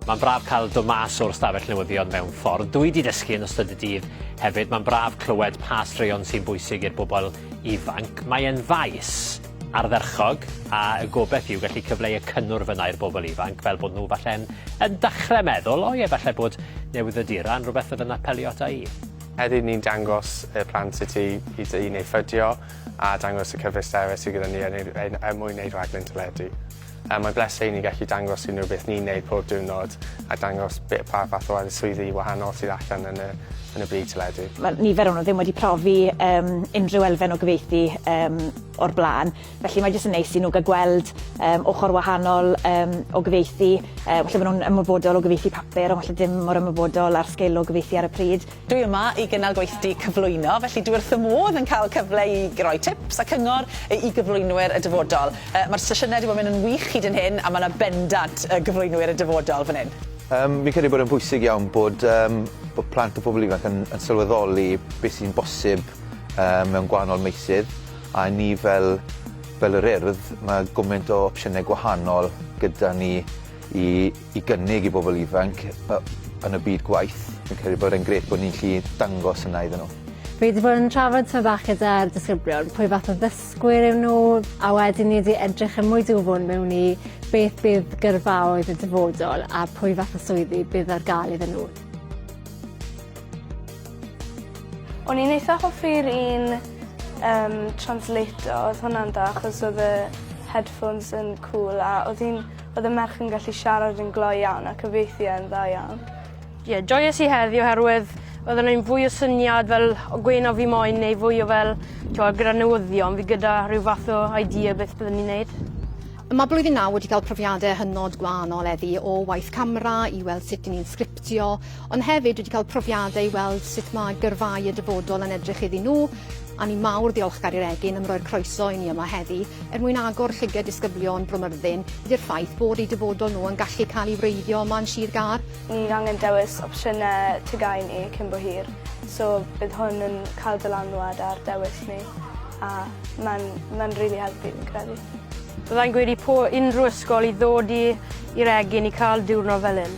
Mae'n braf cael dod mas o'r stafell newyddion mewn ffordd. Dwi wedi dysgu yn ystod y dydd hefyd. Mae'n braf clywed pa straeon sy'n bwysig i'r bobl ifanc. Mae'n faes ardderchog a y gobeith yw gallu cyfleu y cynnwr fyna i'r bobl ifanc fel bod nhw falle'n yn dechrau meddwl, o ie, falle bod newyddiaduron rhywbeth fydd yn apelio ata i. Heddiw ni'n dangos y plant sut i i dŷ neu ffydio a dangos y cyfleusterau sydd gyda ni yn ein ein er mwyn eu rhaglen teledu. Yy mae'n bleser i ni gallu dangos i nhw beth ni'n neud pob diwrnod a dangos be- pa fath o addyswyddi wahanol sydd allan yn y yn y byd teledu. Mae nifer o nhw ddim wedi profi yym unrhyw elfen o gyfieithu yym o'r bla'n. Felly mae jyst yn neis i nhw gael gweld yym ochr wahanol yym o gyfieithu. Yy falle bod nhw'n ymwybodol o gyfieithu papur ond falle dim mor ymwybodol â'r sgil o gyfieithu ar y pryd. Dwi yma i gynnal gweithdy cyflwyno, felly dwi wrth fy modd yn cael cyfle i roi tips a cyngor i gyflwynwyr y dyfodol. Yy mae'r sesiynau 'di bod yn mynd yn wych hyd yn hyn a mae 'na bendant yy gyflwynwyr y dyfodol fan hyn. Yym fi'n credu bod e'n bwysig iawn bod yym bod plant a pobl ifanc yn yn sylweddoli beth sy'n bosib yy mewn gwahanol meysydd. A i ni fel fel yr Urdd ma' gwment o opsiyne gwahanol gyda ni i i gynnig i bobol ifanc yy yn y byd gwaith. Fi'n credu bod e'n grêt bo' ni'n 'llu dangos hwnna iddyn nhw. Fi 'di bod yn trafod tymed bach gyda'r disgyblion pwy fath o ddysgwyr yw nhw a wedyn ni 'di edrych yn mwy dwfwn mewn i beth bydd gyrfaoedd y dyfodol a pwy fath o swyddi bydd ar ga'l iddyn nhw. O'n i'n eitha hoffi'r un yym translator odd hwnna'n da achos odd y headphones yn cŵl a odd hi'n odd y merch yn gallu siarad yn glou iawn a cyfieithu e'n dda iawn. Ie joies i heddi oherwydd odd e neud fwy o syniad fel o gwên o fi moyn neu fwy o fel t'wo' gyda newyddion fi gyda rhyw fath o idea beth byddwn i'n neud. Ma' blwyddyn naw wedi ga'l profiade hynod gwahanol eddi o waith camra i weld sut 'yn ni'n dio, ond hefyd dwi 'di cael profiadau i weld sut mae gyrfaoedd y dyfodol yn edrych iddyn nhw, a ni mawr ddiolchgar i'r Egin am roi'r croeso i ni yma heddi, er mwyn agor llyged disgyblion Bro Myrddin i'r ffaith bod eu dyfodol nhw yn gallu cael ei wreiddio yma yn Sir Gâr. Ni angen dewis opsiynau TGAU ni cyn bo hir, so bydd hwn yn cael dylanwad ar dewis ni, a mae'n mae'n rili helpu fi'n credu. Bydda i'n gweud i po unrhyw ysgol i ddod i i'r egin i ca'l diwrnod fel 'yn.